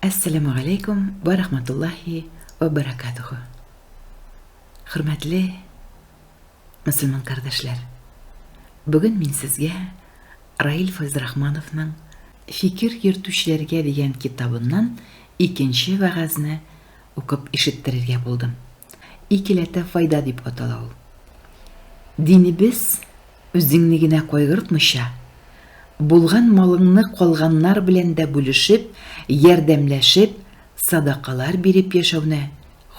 Әссәләмү галәйкүм вә рахматуллаһи вә бәрәкәтүһү. Хөрмәтле мөселман кардәшләр, бүген мин сезгә Раил Файзрахмановның Фикер йөртүчеләргә дигән китабыннан икенче вәгазьне укып ишеттерергә булдым. Икеләтә файда дип атала ул. Динебез үзеңне генә кайгыртмыйча, булган малыңны калганнар белән дә бүлешеп, ярдәмләшеп, садакалар биреп яшәүне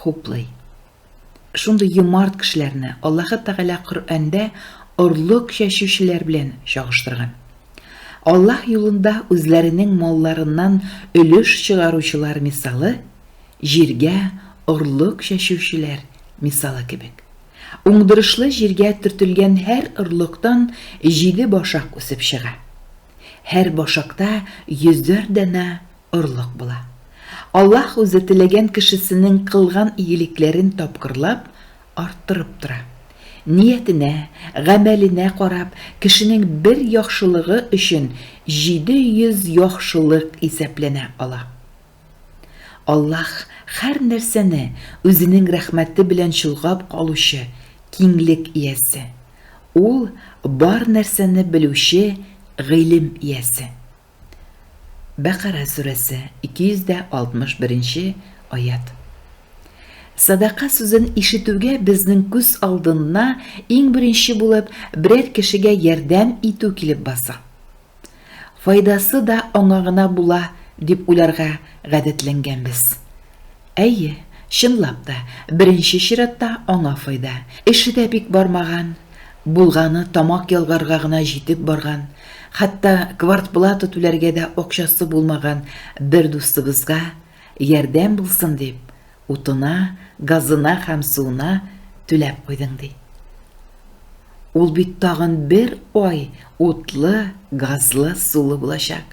хуплый. Шундый юмарт кешеләрне Аллаһы Тәгалә Коръәндә орлык чәчүчеләр белән чагыштырган. Аллаһ юлында үзләренең малларыннан өлеш чыгаручылар мисалы җиргә орлык чәчүчеләр мисалы кебек. Уңдырышлы җиргә төртелгән һәр орлыктан җиде башак үсеп чыга. Һәр башакта йөзәр данә орлык була. Аллаһ үзе теләгән кешесенең кылган игелекләрен тапкырлап арттырып тора. Ниятенә, гамәленә карап, кешенең бер яхшылыгы өчен 700 яхшылык исәпләнә ала. Аллаһ һәр нәрсәне үзенең рәхмәте белән чолгап калучы киңлек иясе. Ул, бар нәрсәне белүче, гыйлем иясе. Бәкара сүрәсе, 261 нче аять. Садака сүзен ишетүгә безнең күз алдына иң беренче булып берәр кешегә ярдәм итү килеп баса. Файдасы да аңа гына була, дип уйларга гадәтләнгәнбез. Әйе, чынлап та, беренче чиратта аңа файда. Эше дә бик бармаган, булганы тамак ялгарга гына җитеп барган, хәтта квартплата түләргә дә акчасы булмаган бер дустыбызга ярдәм булсын дип, утына, газына һәм суына түләп куйдың, ди. Ул бит тагын бер ай утлы, газлы, сулы булачак.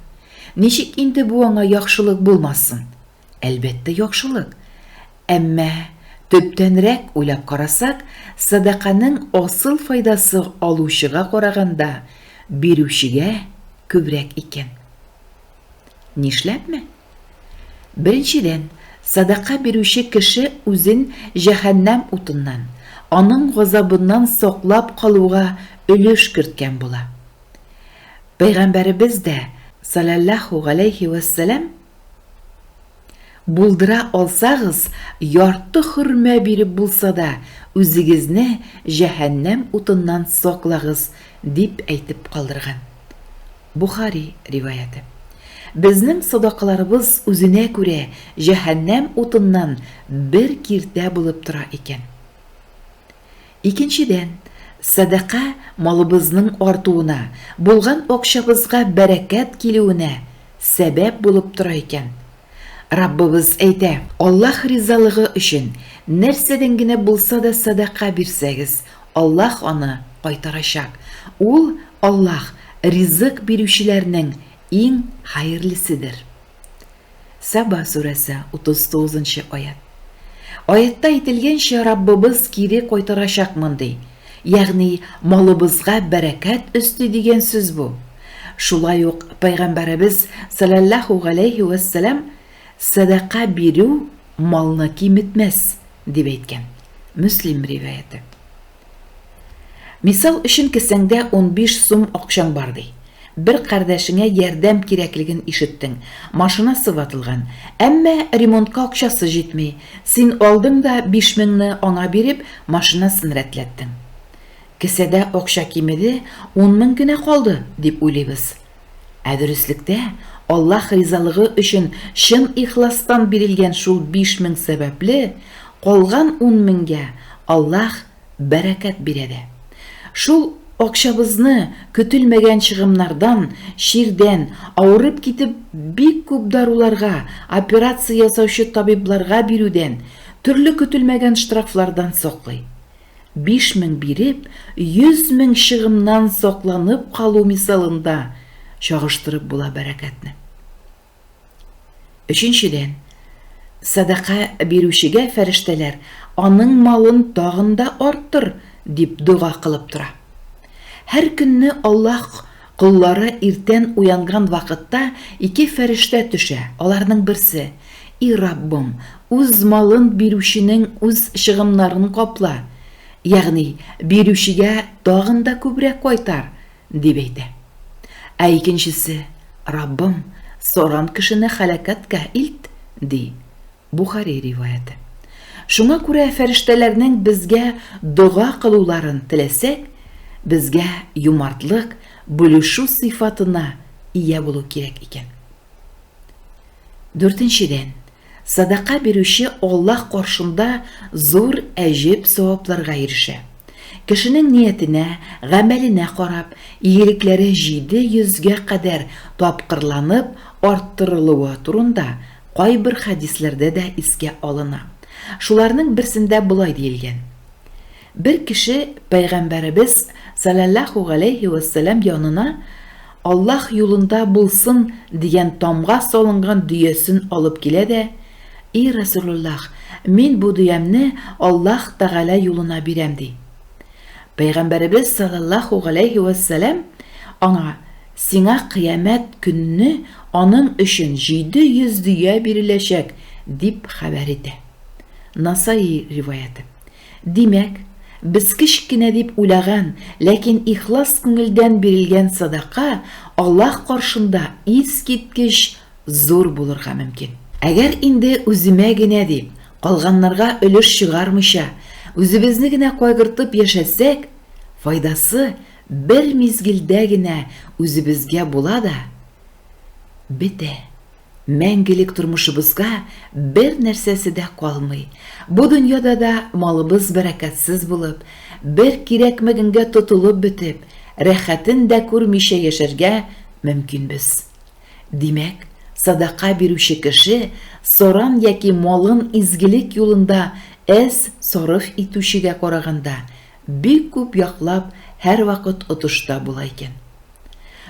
Ничек инде бу аңа яхшылык булмасын? Әлбәттә, яхшылык. Әмма, төптәнрәк уйлап карасак, сәдаканың асыл файдасы алучыга караганда, бирүчегә күбрәк икән. Нишләпме? Беренчедән, сәдака бирүче кеше үзен җәһәннәм утыннан, аның газабыннан саклап калуга өлеш керткән була. Пәйгамбәребез дә, саләллаһу галәйһи вәссәлам, Булдыра алсагыз, ярты хөрмә биреп булса да, үзегезне җәһәннәм утыннан саклагыз, дип әйтеп калдырган. Бохари риваяте. Безнең садакаларыбыз үзенә күрә җәһәннәм утыннан бер киртә булып тора икән. Икенчедән, сәдака малыбызның артуына, булган акчабызга бәрәкәт килүенә сәбәп булып тора икән. Раббыбыз әйтә, Аллаһ ризалыгы өчен, нәрсәдән генә булса да сәдака бирсәгез, Аллаһ аны кайтарачак. Ул, Аллаһ, ризык бирүчеләрнең иң хәерлеседер. Саба сүрәсе, 39 нчы аять. Аятта әйтелгәнчә, Раббыбыз кире кайтарачакмын ди. Ягъни, малыбызга бәрәкәт өсти дигән сүз бу. Шулай ук Пәйгамбәребез, саләллаһу галәйһи вә сәлам, Сәдака бирү малны киметмәс, дип әйткән. Мөслим риваяте. Мисал өчен кесәңдә унбиш сум акчаң бар ди. Бер кардәшеңә ярдәм кирәклеген ишеттең, машинасы ватылган, әмма ремонтка акчасы җитми, син алдың да биш меңне аңа биреп машинасын рәтләттең. Кесәдә акча кимеде, ун мең генә калды, дип уйлыйбыз. Ә дөреслектә, Аллаһ ризалыгы өчен чын ихластан бирелгән шул биш мең сәбәпле, калган ун меңгә Аллаһ бәрәкәт бирә дә. Шул акчабызны көтелмәгән чыгымнардан, чирдән, авырып китеп, бик күп даруларга, операция ясаучы табибларга бирүдән, төрле көтелмәгән штрафлардан саклый. Биш мең биреп, йөз мең чыгымнан сакланып калу мисалында чагыштырып була бәрәкәтне. Өченчедән, сәдака бирүчегә фәрештәләр аның малын тагын да арттыр, дип дога кылып тора. Һәр көнне Аллаһ Коллары иртән уянган вакытта ике фәрештә төшә, аларның берсе, И Раббым, үз малын бирүченең үз чыгымнарын капла, ягъни бирүчегә тагын да күбрәк кайтар, дип әйтә. Ә икенчесе, Раббым, соран кешене һәлакәткә илт, ди. Бухари риваяте. Шуңа күрә фәрештәләрнең безгә дога кылуларын теләсәк, безгә юмартлык, бүлешү сыйфатына ия булу кирәк икән. Дүртенчедән, садака бирүче Аллаһ каршында зур әҗеп савапларга ирешә. Кешенең ниятенә, гамәленә карап, игелекләре җиде йөзгә кадәр тапкырланып арттырылуы турында Кайбер хәдисләрдә дә искә алына. Шуларның берсендә болай диелгән, Бер кеше Пәйгамбәребез, саләллаһу галәйһи вә сәлам, янына Аллаһ юлында булсын дигән тамга салынган дөясен алып килә дә, И Рәсүлуллаһ, мин бу дөямне Аллаһ Тәгалә юлына бирәм, ди. Пәйгамбәребез, саләллаһу галәйһи вә сәлам, аңа, Сиңа кыямәт көнне аның өчен җиде йөз дөя биреләчәк, дип хәбәр итә. Насаи риваяте. Димәк, без кечк кенә дип уйлаган, ләкин ихлас күңелдән бирелгән садака Аллаһ каршында искиткеч зур булырга мөмкин. Әгәр инде үземә генә дип, калганнарга өлеш чыгармыйча, үзебезне генә кайгыртып яшәсәк, файдасы Бер мизгелдә генә үзебезгә була да, бетә. Мәңгелек тормышыбызга бер нәрсәсе дә калмый. Бу дөньяда да малыбыз бәрәкәтсез булып, бер кирәкмәгәнгә тотылып бетеп, рәхәтен дә күрмичә яшәргә мөмкинбез. Димәк, садака бирүче кеше саран яки малын изгелек юлында әз сарыф итүчегә караганда Бик күп яклап һәрвакыт отышта була икән.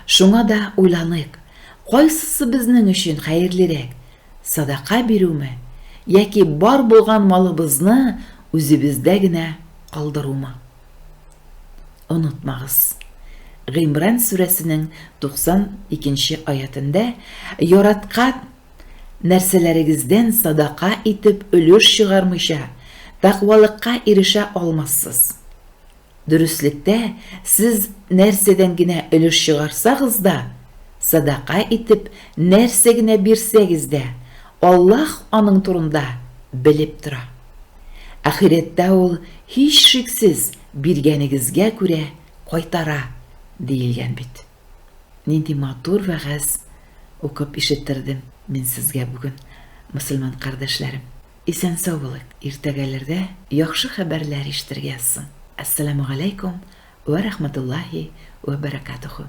Шуңа да уйланыйк, кайсысы безнең өчен хәерлерәк, садака бирүме яки бар булган малыбызны үзебездә генә калдырумы? Онытмагыз, Гыймран сүрәсенең 92 нче аятендә яраткан, Нәрсәләрегездән садака итеп өлеш чыгармыйча, тәкъвалыкка ирешә алмассыз. Дөреслектә, сез нәрсәдән генә өлеш чыгарсагыз да, садака итеп нәрсә генә бирсәгез дә, Аллаһ аның турында белеп тора. Ахирәттә Ул, һичшиксез, биргәнегезгә күрә кайтара, диелгән бит. Нинди матур вәгазь укып ишеттердем мин сезгә бүген, мөселман кардәшләрем. Исән-сау булыйк, иртәгәләрдә яхшы хәбәрләр ишетергә язсын. Әссәламүгаләйкүм вә рәхмәтуллаһи вә бәрәкатүһү.